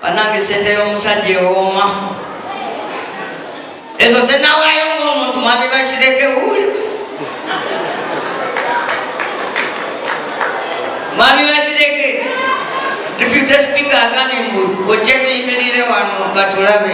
banange sente y'omusajja ewooma ezo zenawaayo ngaomuntu mwami bakireke wuli mwami bakireke deputy speaker agambye mbu ojje tuyimirire wano batulabe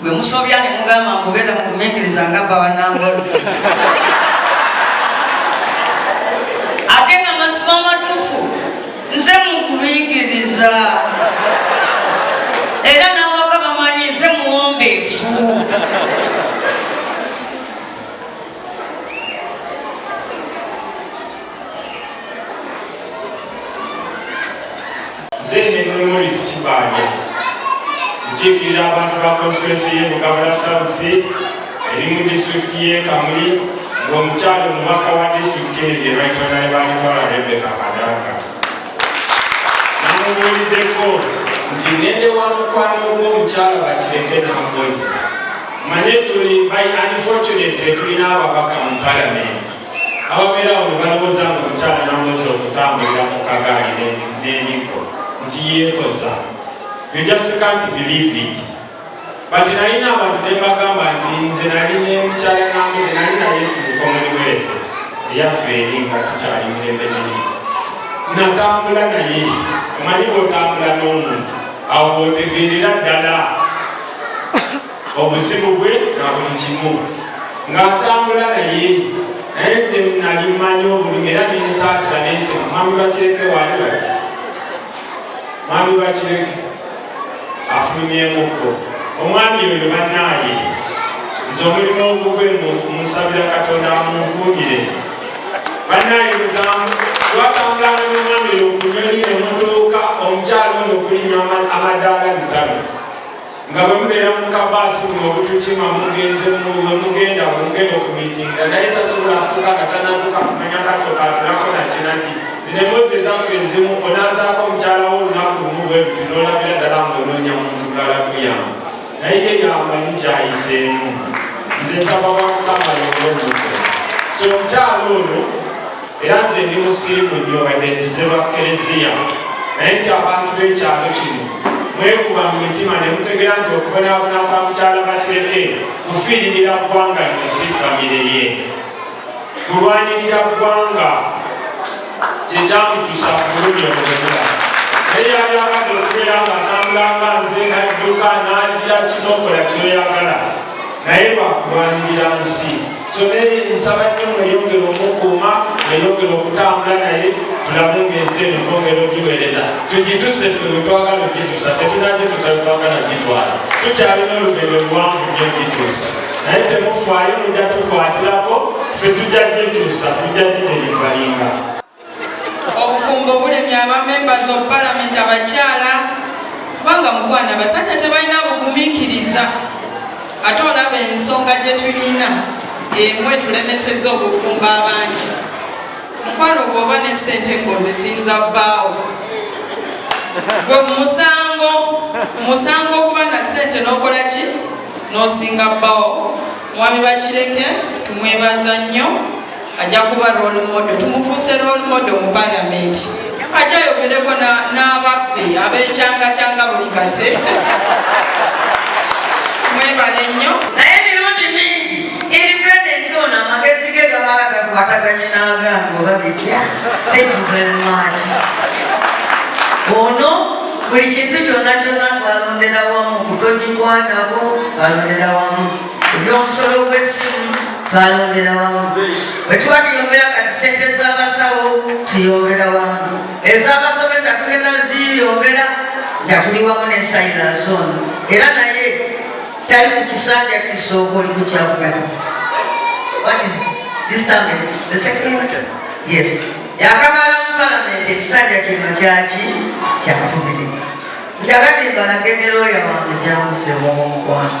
gwe musobya ne mugamba mbubeera mugumikiriza nga bba wa nambozi ate nga mazima amatuufu nze mukubikiriza era nawaka bamanyi nze muwombeefu nze Henry Morris Kibanja nkiikirira abantu ba konstituensi y'e Bugabala South eri mu disitulikiti y'e Kamuli ng'omukyalo omubaka wa disitulikiti eyo ye Right Honorable Twala Rebecca Kadaga namubuuliddeko nti ngende wa mukwano gw'omukyalo bakireke n'amukozi manye tuli by unfortunately tulina ababaka mu palamenti ababeera awo ne balowooza nga omukyala namuzi okutambulira mu kagaali n'emiggo nti yeekoza you just can't believe it but nalina abantu ne bagamba nti nze nali nemukyala namuzi nali naye ku mukomoni wefe eyaffe eri nga tukyali mirembe miri natambula naye omanyi bwotambula n'omuntu awo bwotegeerera ddala obuzibu bwe na buli kimu ng'atambula naye naye nze nali mmanyi obulumi era nensaasira nensi mwami bakireke waali bali mwami bakireke afulumyemukko omwami oyo bannaaye nze omulimu ogugwe musabira katonda amunkuumire bannaaye lugambo twatambulana nomwami okunyonyi nemutuuka omukyalo ono okulinya amadaala bitano nga bwe mubeera mu kabaasi mu obutukima mugenze mube mugenda mugenda okumitinga naye tasobola kutuka nga tanazuka kumanya katto katulako nakinati zino emboozi ezaffe ezimu onazaako omukyala wo olunaku lumu bwe buti nolabira ddala ngaonoonya muntu mulala kuyamba naye ye yamanyi kyayiseemu nze nsaba wakukama yobwemuke so omukyala ono Era nze ndi musirimu nnyo wadde nzize lwa Kkereziya, naye nti abantu b'ekyalo kino mwekuba mu mitima ne mutegera nti okubonaabona kwa mukyala Bakireke kufiiririra ggwanga lino si famire ye. Kulwanirira ggwanga kye kyamutuusa ku bulumi obwemula. Naye yali abadde okubeera nga atambulanga nze nadduka n'agira kinokola kyoyagala naye lwakulwanirira nsi Someri nsaba nnyo mweyongere omukuuma mweyongere okutambula naye tulabe ngaensi eno twongera ogiweereza tugituse fe wetwagala ogitusa tetunagitusa wetwagala gitwala tukyalina olugendo luwanvu nyo ogituusa naye temufaayo mujja tukwatirako fe tujja gituusa tujja giderivayinga obufumbo bulemye aba members of parliament abakyala kubanga mukwana abasajja tebalina bugumikiriza ate olaba ensonga gyetuyina emu etulemeseza obufumbo abangi mukwano bwoba ne sente ngaozisinza bbaawo gwe musango musango okuba na sente nokola ki nosinga bbaawo mwami bakireke tumwebaza nnyo ajja kuba role model tumufuuse role model mu palamenti ajja ayogereko n'abaffe abekyangakyanga buli kase mwebale nnyo naye mirundi mingi eri president ono amagezi ge gamala gakwataganye n'agange oba bitya tekivelemaki ono buli kintu kyonna kyonna twalondera wamu kutogikwatako twalondera wamu ebyomusolo gw'essimu twayongera wamu bwe tuba tuyongera kati sente z'abasawo tuyongera wamu ez'abasomesa tugenda ziyongera nga tuli wamu ne silason era naye tali ku kisanja kisooka oli kukyakugana yakamala mu palamenti ekisanja kino kyaki kyakubiri njagadde mbalagenderoya wange gyamusemuomukwano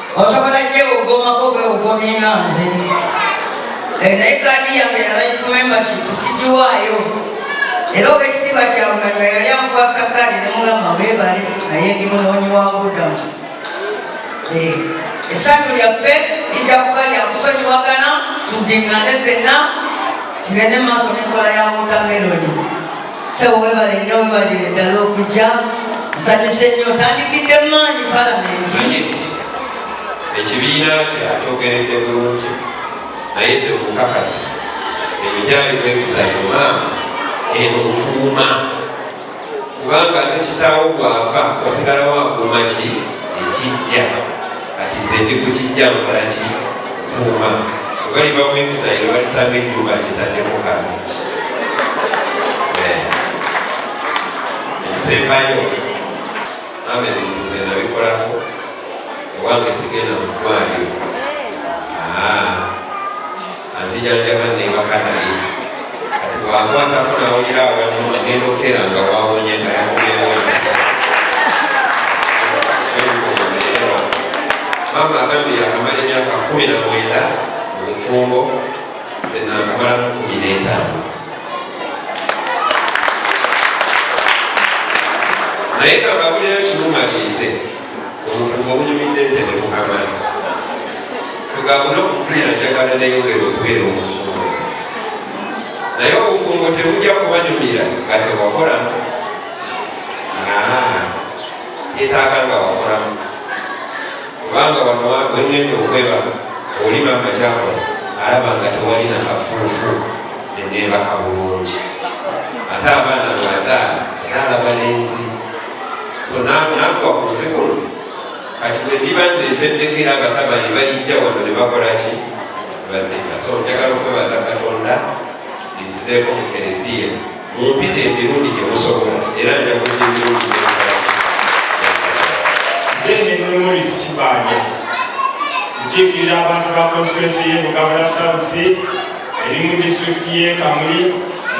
osobola gyewogomako bwewogomye nga nze eh, naye kaadi yange ya life membership sigiwaayo era obwekitiibwa kyawe nga yali amukwasa kaadi nemugamba webale naye ndi munoonyi wa budamu eh, esanyu lyaffe lijja kuba lyakusonyiwagana tudingane fenna tugende mu maaso n'enkola ya wotameroni sebo webale nyo webalire ddala okujja nsanyuse nnyo otandikidde maanyi palamenti ekibiina kye akyogeredde bulungi naye ze okukakasa emijaali gwebizayo maama eno okuuma kubanga nekitawo gwafa wasigalawo akuuma ki ekijja kati nze ndi ku kijja nkola ki kuuma ogaliva mu emizayiro balisanga ennyumba netaddeko kamingi eh. ekisembayo ame bintu nze nabikolako owange sigenda mu ddwaliro ah. anzijanjaba nembaka naye kati bwankwatako nawulira awamu agenda okera nga wawonye nga yakubeewo mama agambye yakamala emyaka kumi na mwenda mu bufumbo senankamalamu kumi n'etaano naye kangabulirayo kimumalirize obufumbo obunyumidde nze nebukamala tugambo nokukulira njagala neyongera okubeera obufumbo naye obufumbo tebujja kubanyumira nga tewakolamu yetaaga nga wakolamu kubanga wano wengenda okweba olima nga kyakola alaba nga tewalina kafuufu neneebaka bulungi ate abaana bwazaala zaalaba nensi so nankuba ku nsi kuno kati bwe ndiba nze mpeddeko era abatabani balijja wano ne bakola ki bazinga so njagala okwebaza katonda nzizeeko mu kereziya mumpita emirundi gye musobola era nja kujja emirundi nze nememoris kibanja nkiikirira abantu ba konstituensi ye mugabula south eri mu disitulikiti y'e Kamuli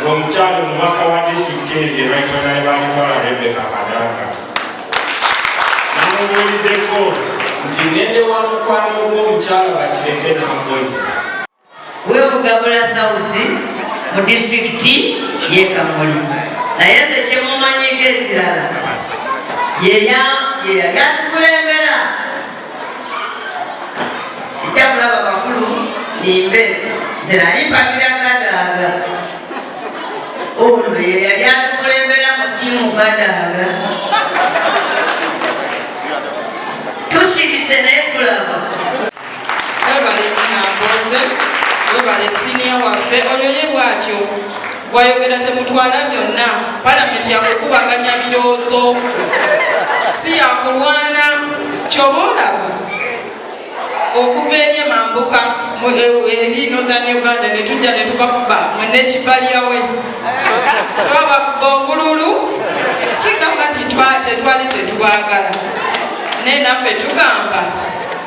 ng'omukyala omubaka wa disitulikiti eyo gye bayitonali baalitwala Rebeka Kadaga namubuuliddeko nti ngende wa mukwano gw'omukyala bakireke n'amukozi webugabula thawusi mu disitulikiti y'e Kamuli naye nze kyemumanyiko ekirala yeya yeyali atukulembera sijja kulaba bakulu nimbe nze nali mpagira kadaaga ono yeyali atukulembera mu tiimu kadaaga tusirise naye tulaba webale nyina mboze webale siniya waffe oyo ye bwatyo bwayogera temutwala byonna palamenti yakukubaganya biroozo si yakulwana kyoba olaba okuva eri emambuka e, eri northern uganda netujja netubakuba munekibalyawe twabakuba obululu si gamba tetwali tetubagala naye naffe tugamba